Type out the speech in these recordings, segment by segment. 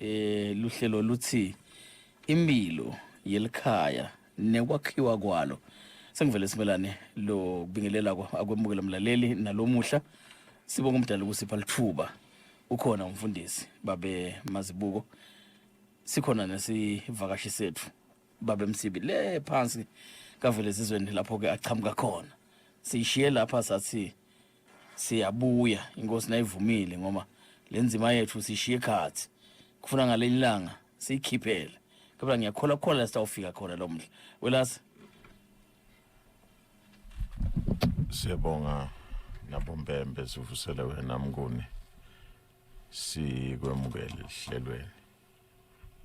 Eh luhlelo luthi impilo yelikhaya nekwakhiwa kwalo sengivele simelane lo kubingelela akwemukela mlaleli nalomuhla sibonga umdala ukusipha lithuba ukhona umfundisi babe mazibuko sikhona nesivakashi sethu babe msibi le phansi kavele zizweni lapho ke achamuka khona siyishiye lapha sathi siyabuya inkosi nayivumile ngoba le nzima yethu sishiye khathi kufuna ngaleli langa siyikhiphele kodwa ngiyakhola khona sitawufika khona lo mdla welasi siyabonga nabombembe sivusele wena mnguni sikwemukele lihlelweni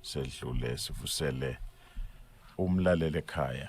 sedlule sivusele umlaleli ekhaya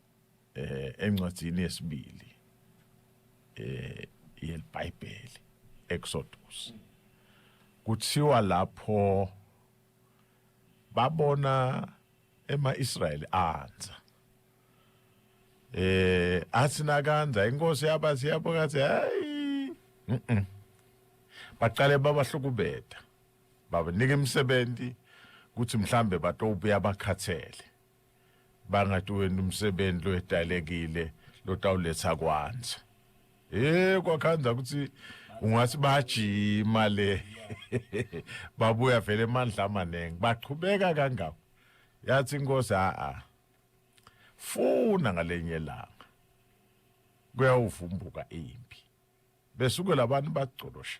eh encwadzini yesibili eh yelibhayibheli Exodus kuthiwa lapho babona emaIsrayeli anza eh athi nakanza inkosi yabathi yabo kathi hayi mhm baqale babahlukubeda babanika imisebenzi ukuthi mhlambe batowubuya bakhathele bangathi wena umsebenzi loyedalekile lotawuletha kwanza eh kwakhanza ukuthi ungathi bajima le babuya vele emandla amaningi baqhubeka kangako yathi inkosi a a funa ngalenye langa kuyawuvumbuka impi besuke labantu bagcolosha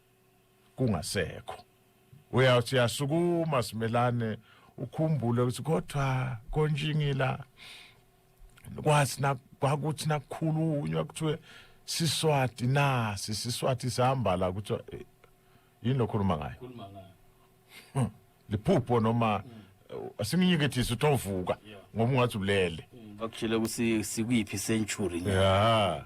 kungasekho uyawuthi yasukuma simelane ukhumbule ukuthi kodwa konjingila kwathi kwakuthi nakukhulunywa kuthiwe siswati nasi siswati sihamba la kuthiwa eh, yini lokhuluma ngayo hmm. liphupho noma hmm. asinginyekethise ukuthi ovuka ngoba ungathi ulele bakutshele ukuthi sikuyiphi century ya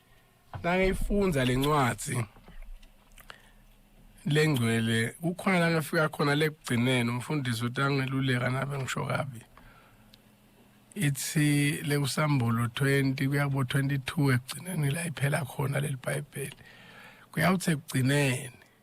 nangiyifunda le ncwadi lengcwele kukhona la ngafika khona lekugcineni umfundisi utangeluleka nabe ngisho kabi ithi lekusambulo 20 kuya kubo 22 ekugcineni la iphela khona leli bhayibheli kuyawuthi ekugcineni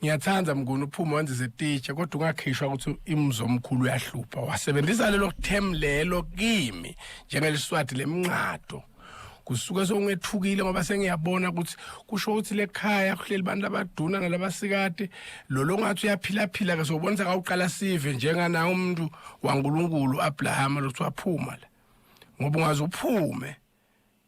ngiyathanda mnguni uphume wenzize teacher kodwa ungakhishwa ukuthi imzomkhulu uyahlupha wasebenzisa lelo term lelo kimi njengeliswadi lemnqado kusuke songethukile ngoba sengiyabona ukuthi kusho ukuthi lekhaya kuhleli abantu abaduna nalabasikade lo longathi uyaphila-phila-ke sobonisa kawuqala sive njenganaye umuntu wankulunkulu abrahama lokuthiwa phuma la ngoba ungaze uphume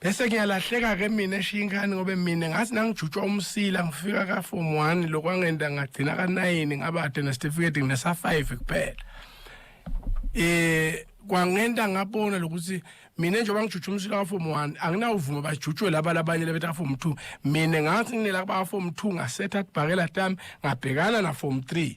bese ngiyalahleka ke mina eshiya ingane ngobe mina ngathi nangijutshwa umsila ngifika ka form 1 lokwangenda ngagcina ka 9 ngabade ne certificate nginesa 5 kuphela eh kwangenta ngabona lokuthi mina njengoba ngijutshwa umsila ka form 1 anginawuvuma bajutshwe laba labanye lebetha form 2 mina ngathi nginela ba form 2 ngasetha kubhakela tami ngabhekana na form 3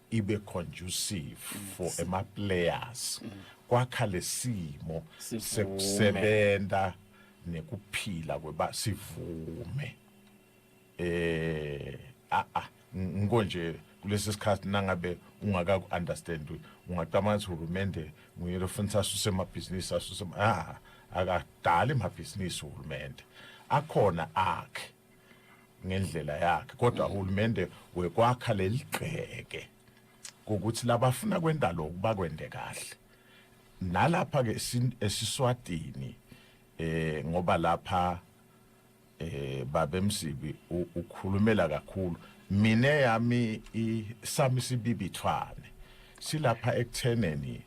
ibe conducive for ama players kwakha lesimo Sivume. sekusebenza nekuphila kweba sivume eh a a ngiko nje kulesi sikhathi nangabe ungaka understand ungacabanga ukuthi uhulumende nguye lofunisa asuse amabhizinisi asuse ama- ah akadali amabhizinisi uhulumende akhona akhe ngendlela yakhe kodwa uhulumende wekwakha leligceke ukuthi labafuna kwenda lokhu bakwende kahle nalapha ke esiswatini eh ngoba lapha eh babemsibi ukhulumela kakhulu mina yami isami sibibithwane silapha ekutheneni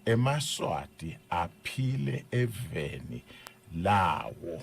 emaswati aphile eveni lawo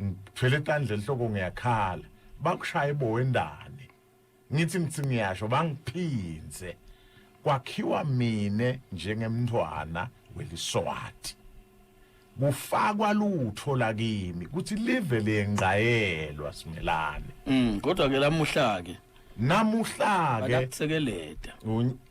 ngithwele tandla enhloko ngiyakhala bakushaya ibowendane ngithi ngithi ngiyasho bangiphinze kwakhiwa mina njengemntwana weliswati kufakwa lutho lakimi kuthi live lengqayelwa simelane mm kodwa ke lamuhla ke namuhla ke balakusekeleta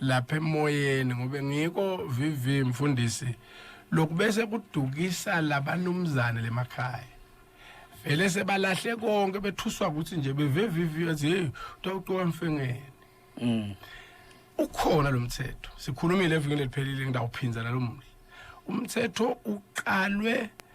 lapha emoyeni ngobe ngiko VV mfundisi lokubese kudukisa labanumzane lemakhaya vele sebalahle konke bethuswa ukuthi nje bevevivi athi hey utawuqoka mfengeni mm ukhona lo mthetho sikhulumile evikini eliphelile ngidawuphinza nalomhla umthetho uqalwe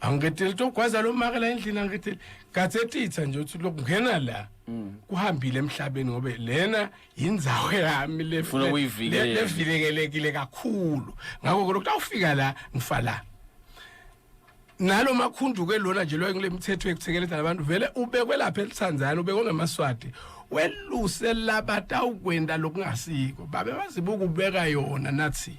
angiketheli ukuthi ogwaza lo maka la endlini angiketheli kathetitha nje ukuthi lokungena la mm. kuhambile emhlabeni ngobe lena yindzawo yami levilekelekile kakhulu ngakho kodwa ukuthi awufika la ngifa la nalo makhunduke lona nje loyo kule mithetho yekuthekeleza labantu vele ubekwe lapha elithanzana ubekwe ngemaswati weluse labatawukwenda lokungasiko babe bazibuka ubeka yona nathi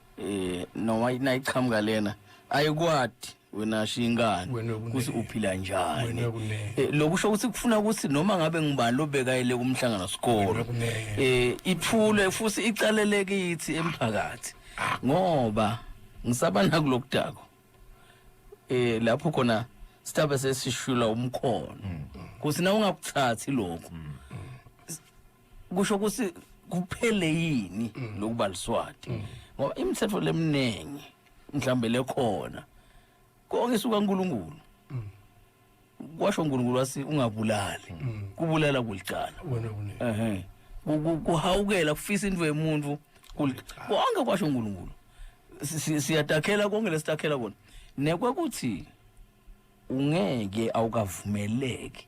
eh noma ina iqhamuka lena ayikwadi wena shingane Wena kune- ukuthi uphila njani Wena kune- Eh, lokusho ukuthi kufuna ukuthi noma ngabe ngubani lobekayele kumhlangano sikolo Wena kune- eh ithule futhi icalele kithi emphakathi ngoba ngisaba nakulokudako eh lapho khona sithabe sesishula umkhono kuthi na ungakuthathi lokho kusho ukuthi kuphele yini mm. lokuba liswati mm. ngoba imithetho leminingi mhlambe lekhona konke suka uNkulunkulu mm. kwasho uNkulunkulu wasi ungabulali kubulala kulicala wena kunini ehe kuhawukela kufisa into yemuntu konke kwasho uNkulunkulu siyatakhela konke lesitakhela kona nekwe kuthi ungeke awukavumeleki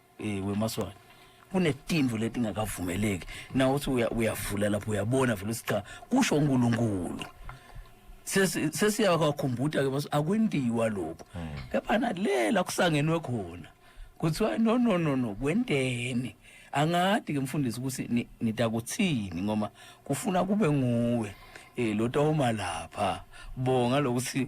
Eh wemaswana kunetimvu letingakavumeleki nawe uthi uya- uyavula lapho uyabona vele ukuthi cha kusho uNkulunkulu Sesi- sesiyakwakhumbula ke bas akwendiwa lokho kepha nalela kusangenwe khona kuthiwa no no no no kwenteni angadi ke mfundisi ukuthi ni- nitakuthini ngoba kufuna kube nguwe eh lotawuma lapha bonga lokuthi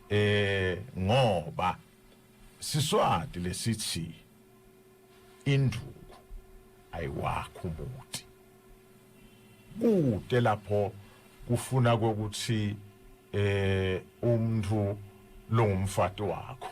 eh ngoba siswati lesithi induku ayiwakho umuthi kude lapho kufuna ukuthi eh umuntu longumfati wakho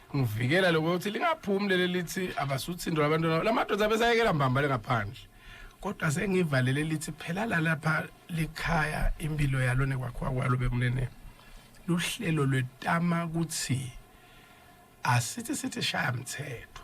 ngivikela lokho ukuthi lingaphumi leli lithi abasuthindwa abantu lamadoda abesayekela mbambale ngaphandle kodwa sengivalele lithi phela lalapha likhaya impilo yalo nekwakhiwa kwalo bekunene luhlelo lwetama ukuthi asithi sithi shaya mthetho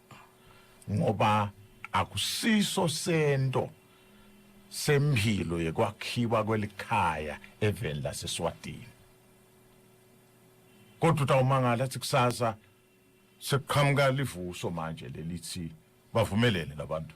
ngoba akusiso sento sempilo yekwakhiwa kwelikhaya eveni laseSwatini kodwa utawumangala athi kusasa sekuqhamuka livuso manje lelithi bavumelene labantu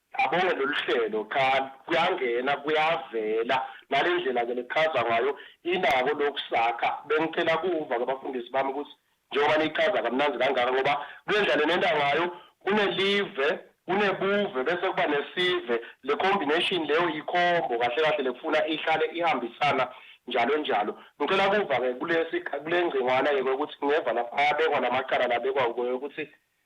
Abonge lolu hlelo cha kuyangena kuyavela nale ndlela ke nekuchaza ngayo inako lokhu sakha bengicela kuva ke bafundisi bami ukuthi njengoba niyichaza kamnandi kangaka ngoba kule ndlela nenenda ngayo kunelive kunebuve bese kuba nesive le combination leyo yikhombo kahle kahle lekufuna ihlale ihambisana njalo njalo ngicela kuva ke kulesi kule ngcingwana yeke ukuthi ngeva lapha ayabekwa lamacala labekwa ukuthi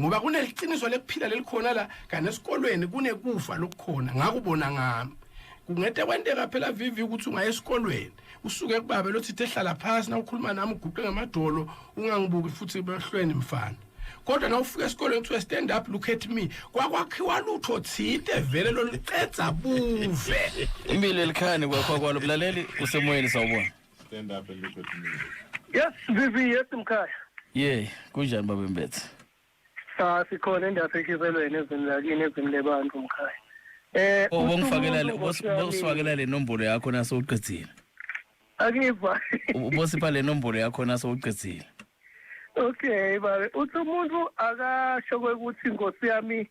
ngoba kuneliqiniso lekuphila lelikhona la kanti esikolweni kunekufa lokukhona ngakubona ngami kungete kwenteka phela vivi ukuthi ungaye esikolweni usuke kubabe lothithe hlala phasi na ukhuluma nami uguqe ngamadolo ungangibuki futhi behlweni mfana kodwa na ufika esikolweni kuthiwa stand up look at me kwakwakhiwa lutho thinte vele loluqedza buve impilo elikhani kwakho kwalo mlaleli usemoyeni sawubona Stand up and look at me. Yes, Vivi, yes mkhaya. Yey, kunjani baba Mbethe? Cha sikhona endaphekhizelweni ezini lakini ezini lebantu mkhaya. Eh, Oh, bongifakela le usumuntu Nkosi bosifakela le nombolo yakho nase uqedzile. yami. Akiva. Ubosipha le nombolo yakho nase uqedzile. Okay, babe. Uthi umuntu akasho ukuthi Nkosi yami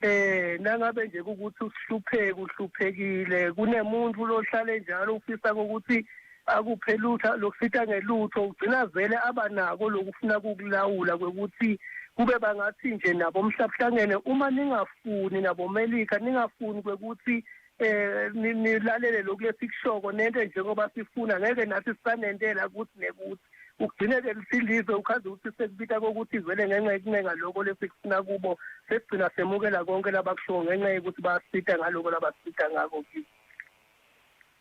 Eh nangabe nje ukuthi usihlupheke uhluphekile kunemuntu lohlale njalo ufisa ukuthi akuphe lutho lokusita ngelutho ugcina vele abanako lokufuna kukulawula kwekuthi kube bangathi nje nabo mhlabuhlangene uma ningafuni nabo melika ningafuni kwekuthi eh nilalele lokhu lesikushoko nento njengoba sifuna ngeke nathi sisanentela ukuthi nekuthi ugcine ke lisilizwe ukhaze ukuthi sekubita kokuthi vele ngenxa yekuncenga lokho lesikufuna kubo sekugcina semukela konke labakushoyo ngenxa yokuthi basita ngaloko labasita ngako kithi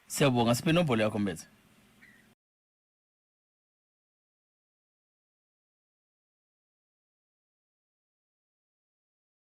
siyabonga siphe inombolo yakho mbethe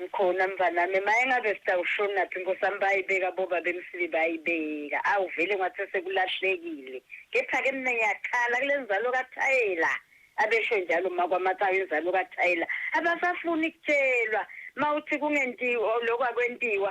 Ngikhona mfanami mayengabe sitawushonaphi nkosami bayibeka bobabemsibi bayibeka awu vele ngathe sekulahlekile kepha ke mina ngiyakhala kulenzalo kathayela abesho njalo makwamakayo inzalo kathayela abasafuni kutshelwa mawuthi kungentiwa lokho akwentiwa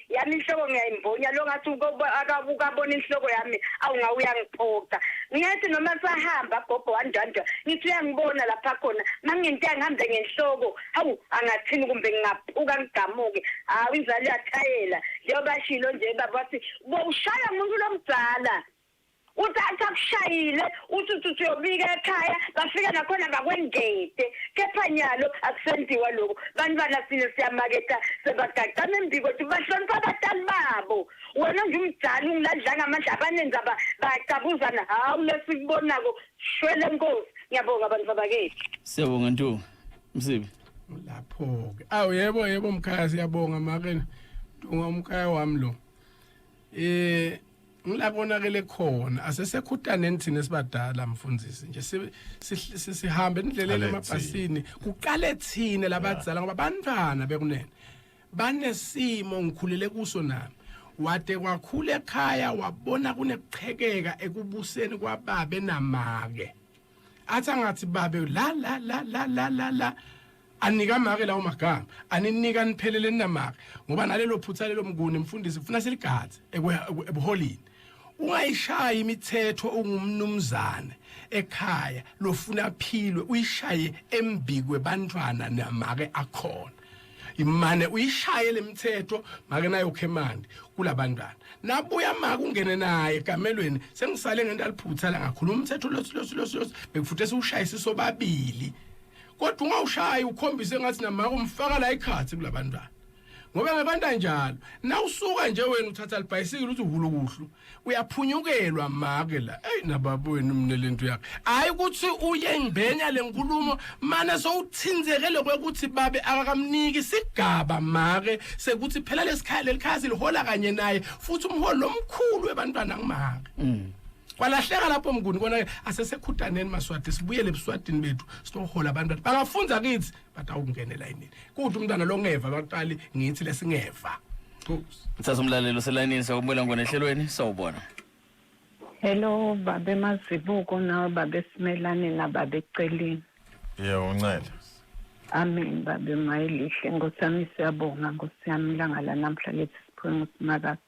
yami inhloko ngiyayimbonya lo ngathi ukabona inhloko yami awunga uyangiphoxa ngiyathi noma sahamba gogo wandwandwa ngithi uyangibona lapha khona mangingenteka ngihambe ngenhloko hawu angathini kumbe ngingaphuka ngigamuke hawu inzalo yathayela njengoba shilo nje baba wathi bowushaya umuntu lomdala uthi athi akushayile uthi uthi uthi uyobika ekhaya bafika nakhona bakwengede kepha nyalo akusentiwa lokho bantwana sine siyamaketha sebagaqama embiko ukuthi bahlonipha abatali babo wena nje umdala ungilandlanga amandla abanenza bayacabuzana hawu lesikubonako shwele nkosi ngiyabonga abantu babakethu siyabonga ntu msibi lapho-ke awu yebo yebo mkhaya siyabonga makena ntunga umkhaya wami lo um ngila konakele khona asesekhutaneni thina sibadala mfundisi nje sihambe endleleni emabhasini kuqale thina labadzala ngoba bantwana bekunene banesimo ngikhulele kuso nami wade kwakhula ekhaya wabona kunekuqhekeka ekubuseni kwababe namake athi angathi babe la la la la la la anika make lawo magama aninika niphelele ninamake ngoba nalelo phutha lelo mnguni mfundisi kufuna siligadze ebuholini ungayishaya imithetho ungumnumzane ekhaya lofuna philwe uyishaye embikwe bantwana namake akhona imane uyishaye lemithetho make nayo khemandi kulabantwana nabuya maka ungene naye egamelweni sengisale ngento aliphutha la ngakhuluma umthetho losi losi losi bekufuthe siwushaye sisobabili kodwa ungawushayi ukhombise ngathi namako umfaka la ikhathi kulabantwana ngoba ngabantu anjalo nawusuka nje wena uthatha libhayisikile uthi uhulukuhlu uyaphunyukelwa make la eyi nababa wenu mina le nto yakhe hhayi ukuthi uye ngibhenya le nkulumo mane sowuthinzekele kwekuthi babe akakamniki isigaba make sekuthi phela lesikhaya lelikhaya silihola kanye naye futhi umholi lomkhulu webantwana ngimake mm. kwalahleka lapho mnguni kona asesekhutaneni maswati sibuyele ebuswadini bethu sinohola abantu bathi bangafunda kithi bathi awukungenela yini kuthi umntwana lo ngeva baqali ngithi lesingeva Mthatha umlalelo uselayinini siyakubona ngone ehlelweni sawubona Hello babe mazibuko nawe babe simelane nababe celini Yebo uncela Amen babe mayilihle ngosami siyabonga ngosiyami langa la namhla lethi siphume usimakasi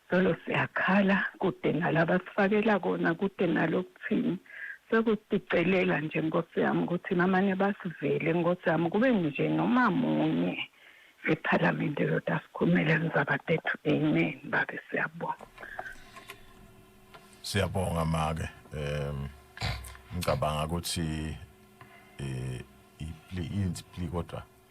Zolo siyakhala kude nala abasifakela kona kude nalo kuthini sekusicelela nje nkosi yami ukuthi namane basivele nkosi yami kube nje noma munye ephalamende lodwa asikhulumele ngizabadethu amen babe siyabonga siyabonga make um ngicabanga ukuthi eh ipli inspli kodwa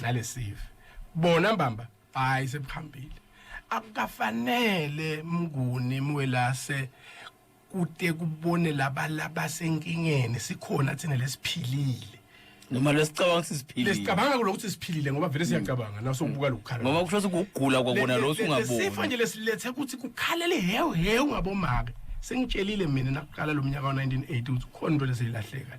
nalesive bona mbamba hayi sebuhambile akukafanele mnguni mwelase kude kubone laba labasenkingeni sikhona thina lesiphilile noma lesicabanga ukuthi siphilile lesicabanga ukuthi siphilile ngoba vele siyacabanga mm. naso ukubuka lokukhala ngoba kusho ukuthi ukugula kwakona lo singaboni sifo nje lesilethe ukuthi kukhalele hewu hewu ngabomake sengitshelile mina nakuqala lo mnyaka wa1980 ukuthi khona into lesilahleka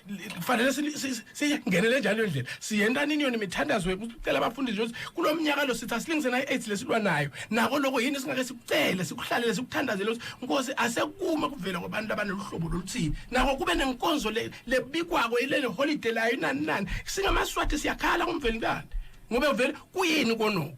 kufanele singenele njalo leyo ndlela siyentani iniyoni imithandazo wethu sicela abafundisi ukuthi kulo mnyaka lo sithi asilingise nayo i-aids lesilwa nayo nako loko yini singake sikucele sikuhlalele sikuthandazele ukuthi nkosi asekume kuvela kwabantu abanoluhlobo loluthile nako kube nenkonzo lebikwako ilele holide layo inani nani singamaswati siyakhala kumvelintana ngoba vele kuyini konoko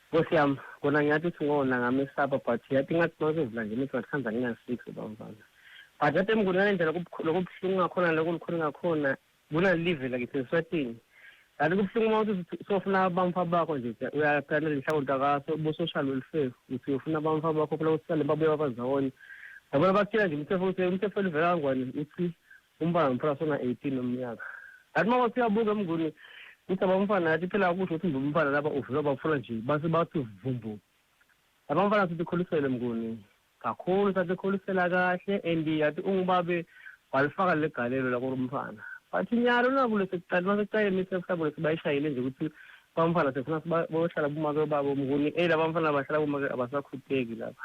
Nkosi yam, kona ngiyathi ukuthi ngona ngamesaba but yathi ngathi mazovula nje imithi ngathi khanza ngingasix ubamfana. But yathi emngonana indlela kubukhulu kubuhlungu ngakhona lokho likhulu ngakhona bona live la kithi eswatini. Kanti kubuhlungu uma uthi sofuna abamfa bakho nje uyaphana lenhlakonto akaso ubusoshalo lolufefu uthi uyofuna abamfa bakho phela usale babuya babazawona. Yabona bakutshela nje umthetho ukuthi umthetho livela kangwane uthi Umfana nomfana sona 18 umnyaka. Kanti mama siyabuka emnguni ukuthi abamfana yathi phela akusho ukuthi ngumfana laba uvula bafuna nje base bathi vumbu. Abamfana sithi kholisele mnguni kakhulu sathi kholisela kahle and yathi ungubabe walifaka legalelo lako lomfana. Bathi nyalo nakule sekuqala mase kuqale mase mhlawumbe sibayishayile nje ukuthi bamfana sefuna sibayohlala kumake babo mnguni eh labamfana abahlala kumake abasakhuteki laba.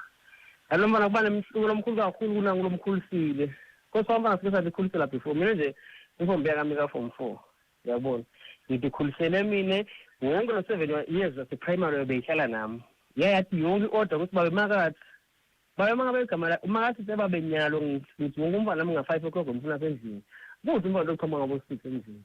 Nalomfana kuba nemhluko lomkhulu kakhulu kunangu lomkhulisile. Nkosi wami bafike salikhulisela before mina nje inkombi yakami ka form 4 yabona ngidikhulisele mina wonke lo 7 years wase primary obeyihlala nami yayathi yonke order ukuthi babe makathi babe makabe igama la makathi sebabe nyalo ngithi wonke umfana nami nga 5 o'clock ngifuna sendlini kuthi umfana lokuthoma ngabo 6 endlini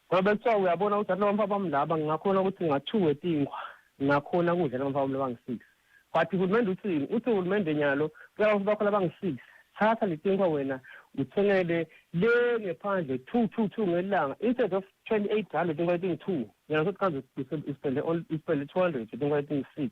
Ngoba bekuthiwa uyabona ukuthi abantu abamfana bami laba ngingakhona ukuthi ngathu wetinkhwa ngakhona kudla labamfana bami labangi-six but uhulumende uthini uthi uhulumende nyalo cela ukuthi bakho labangi-six thatha letinkhwa wena uthengele le ngephandle two two two ngelanga instead of twenty eight rand letinkhwa letingi-two yena sothi kanzi uspende two hundred letinkhwa letingi-six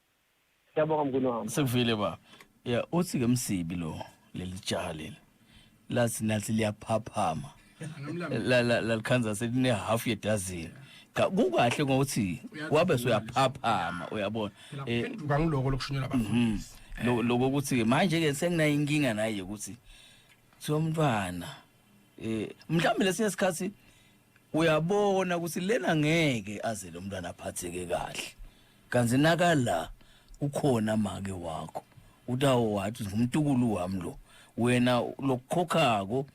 Siyabonga mkhulu wami. Sekuvile ba. Ya uthi ke msibi lo leli jaha leli. Lathi nathi liyaphaphama. La la la likhanza seline half ye dozen. Cha kukahle ngokuthi wabe soyaphaphama uyabona. Eh Phenduka ngiloko lokushunyelwa mhm. abafundisi. Lo- lokho ukuthi manje ke senginayo inkinga naye ukuthi kuthiwa umntwana eh mhlawumbe lesinye isikhathi uyabona ukuthi lena ngeke aze lo mntwana aphatheke kahle kanti nakala ukhona make wakho utawo wathi ngumtukulu wami lo wena lokukhokhako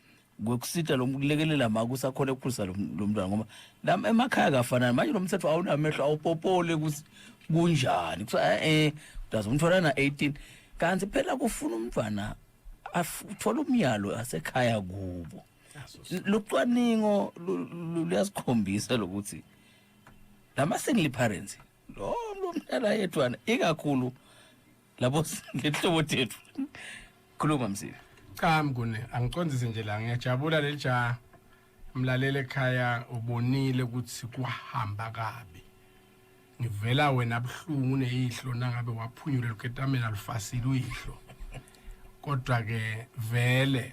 kwekusita lo kulekelela ma kusakhona ukukhulisa lo lo mntwana ngoba la emakhaya kafanani manje lo mthetho awunamehlo awupopole ukuthi kunjani kuthiwa eh udazi umthola na 18 kanti phela kufuna umntwana afu- uthole umyalo asekhaya kubo lucwaningo luyasikhombisa lokuthi lama single parents lo mntana yedwana ikakhulu labo ngehlobo tethu khuluma msile cha mngune angicondzise nje la ngiyajabula leli jaha mlalele ekhaya ubonile ukuthi kuhamba kabi ngivela wena buhlungu uneyihlo nangabe waphunyule luketamela lufasile uyihlo kodwa ke vele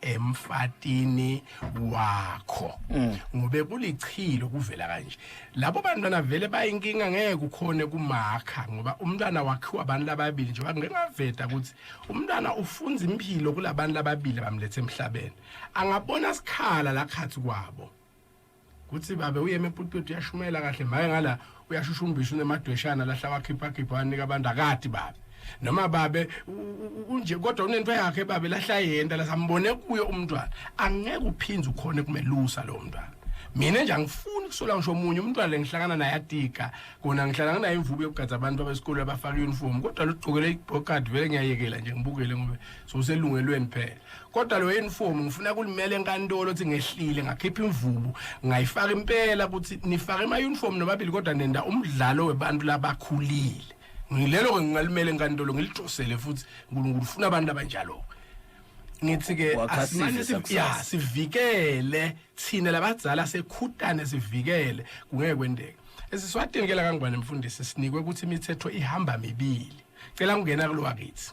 emfatini wakho mm. ngobe kulichilo kuvela kanje labo bantwana vele bayinkinga ngeke ukhone kumakha ngoba umntwana wakhiwa abantu lababili nje ngingaveta ukuthi umntwana ufunza impilo kulabantu lababili bamlethe emhlabeni angabona sikhala la khathi kwabo kuthi babe uye emepulpiti uyashumayela kahle maye ngala uyashushumbisa unemadweshana lahla wakhiphakhipha wanika abantu akati babe noma babe unje kodwa unento yakhe babe lahla yenta lasambone kuyo umntwana angeke uphinde ukhone kumelusa lo mntwana mina nje angifuni kusola ngisho omunye umntwana lengihlangana naye atika kona ngihlala nginayo imvubu yokugadza abantu abesikole abafaka uniform kodwa lugqokele ibhokadi vele ngiyayekela nje ngibukele ngoba soselungelweni phela kodwa lo uniform ngifuna kulimela enkantolo ukuthi ngehlile ngakhipha imvubu ngayifaka impela ukuthi nifake ama uniform nobabili kodwa nenda umdlalo webantu labakhulile ngilelo ke ngingalimela enkantolo ngilidosele futhi uNkulunkulu ufuna abantu abanjalo ngithi ke asimane ya sivikele thina labadzala sekhutane sivikele kungeke kwendeke esiswadini ke la kangubani mfundisi sinikwe ukuthi imithetho ihamba mibili cela ungena kulowakithi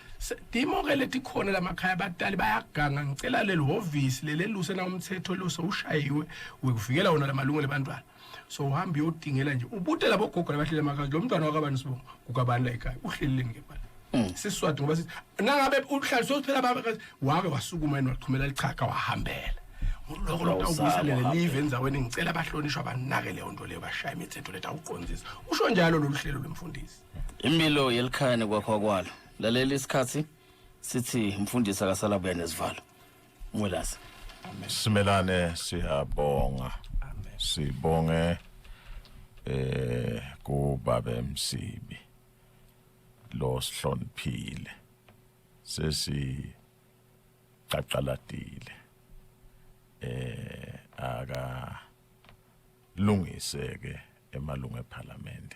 Dimo ke letikhona lamakhaya abatali bayaganga ngicela leli hhovisi leleluse na umthetho lo sowushayiwe wekuvikela wona lamalungelo ebantwana so uhamba uyodingela nje ubute labo gogo labahlele amakazi lo mntwana wakabani sibongo kukabani la ekhaya uhlelile ngempela mm. siswadi ngoba sithi nangabe uhlale sophela abakazi wake wasukuma yena waqhumela lichaga wahambela lokho lokho awubuyiselele live enzaweni ngicela abahlonishwa banake leyo nto leyo bashaya imithetho letha uqondisa usho njalo lolu hlelo lomfundisi impilo yelikhaya nekwakho kwalo lalela isikhathi sithi mfundisi akasalabuya nezivalo mwelase simelane siyabonga sibonge eh kubabe msibi lo sihloniphile sesi qaqaladile eh aka lungise ke emalungu eParliament